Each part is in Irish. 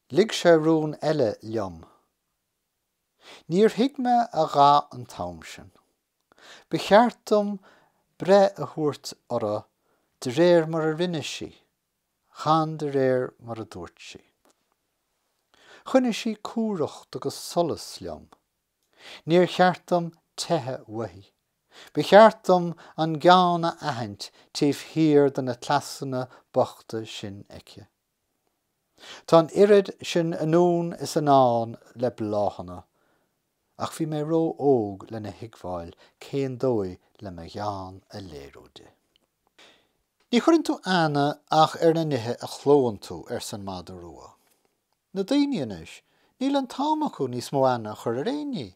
Lig sé rún eile liom. Níor thuig mé a dhath an t-am sin. Ba cheart dom breith a thabhairt orthu de réir mar a rinne sí, chan de réir mar a dúirt sí. Choinnigh sí cumhracht agus solas liom. Níor cheart dom teitheadh uaithi. Ba cheart dom an gean a aithint taobh thiar de na cleasanna bochta sin aici. Tá an oiread sin anonn is anall le bláthanna, ach bhí mé ró-óg lena thuigbheáil cén dóigh le mo ghean a léiriú di. Ní chuireann tú aithne ach ar na nithe a chlónn tú, arsa an madadh rua. Na daoine anois, níl an t-am acu níos mó aithne a chur ar aon ní.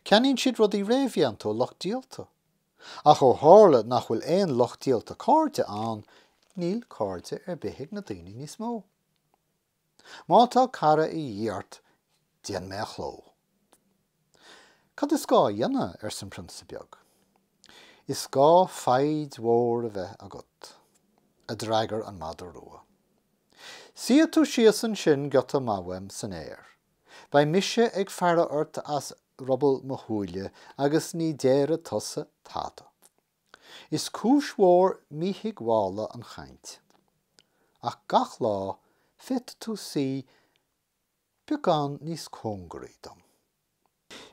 Ceannaíonn siad rudaí réamhdhéanta ó lucht díolta. Ach ó tharla nach bhfuil aon lucht díolta cairde ann, níl cairde ar bith ag na daoine níos mó. Má tá cara a dhíth ort, déan mé a chló. Cad is gá a dhéanamh? arsa an prionsa beag. Is gá foighid mhór a bheith agat, a d'fhreagair an madadh rua. Suífidh tú síos ansin giota maith uaim san fhéar, Beidh mise ag faire ort as ruball mo shúile agus ní déarfaidh tusa tada. Is cúis mhór míthuigbheála an chaint. Ach gach lá, féadfaidh tú suí beagán níos cóngaraí dom.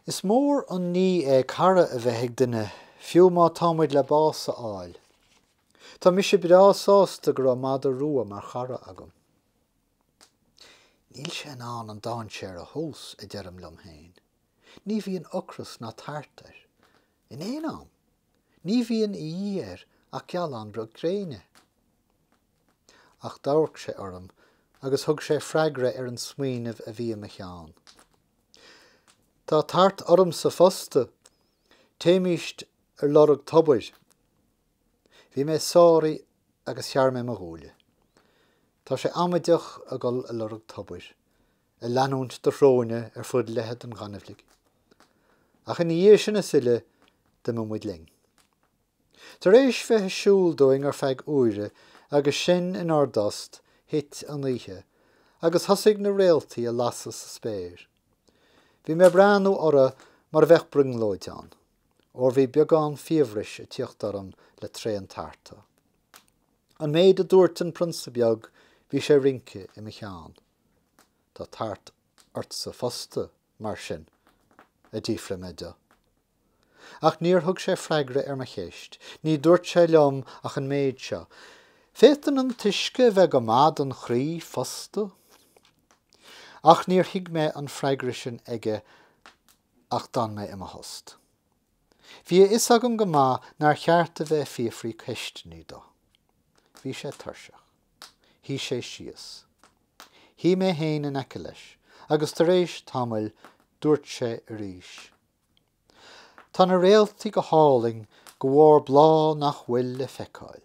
Is mór an ní é cara a bheith ag duine, fiú má tá muid le bás a fháil. Tá mise breá sásta go raibh madadh rua mar chara agam. Níl sé in ann an dainséar a thomhas, a deirim liom féin. Ní bhíonn ocras ná tart air. In aon am. Ní bhíonn de dhíth air ach gealán beag gréine. Ach d'amharc sé orm agus thug sé freagra ar an smaoineamh a bhí i mo cheann. Tá tart ormsa fosta. Téimist ar lorg tobair. Bhí mé sáraithe agus shearr mé mo ghuaillí. Tá sé amaideach a dhul a lorg tobair, a leanúint do shróine ar fud leithead an ghaineamhlaigh. Ach ina dhiaidh sin is uile d'imigh muid linn. Tar éis bheith ag siúl dúinn ar feadh uaire agus sinn inár dtost, thit an oíche agus thosaigh na réaltaí a lasadh sa spéir. Bhí mé ag breathnú orthu mar a bheadh brionglóid ann. óir bhí beagán fiabhrais ag tiocht orm le tréan tarta. An méid a dúirt an prionsa beag bhí sé ag rince i mo cheann. Tá tart ortsa fosta, mar sin? a d'fhiafraigh mé de. Ach níor thug sé freagra ar mo cheist, ní dúirt sé liom ach an méid seo, Féadann an t-uisce a bheith go maith don chroí fosta. Ach níor thuig mé an freagra sin aige Ach d'fhan mé i mo thost. Bhí a fhios agam go maith nár cheart a bheith ag fiafraí ceisteannaí dó. Bhí sé tuirseach. Shuigh sé síos. Shuigh mé féin in aice leis agus tar éis tamaill dúirt sé arís, Tá na réaltaí go hálainn, de bharr bláth nach bhfuil le feiceáil.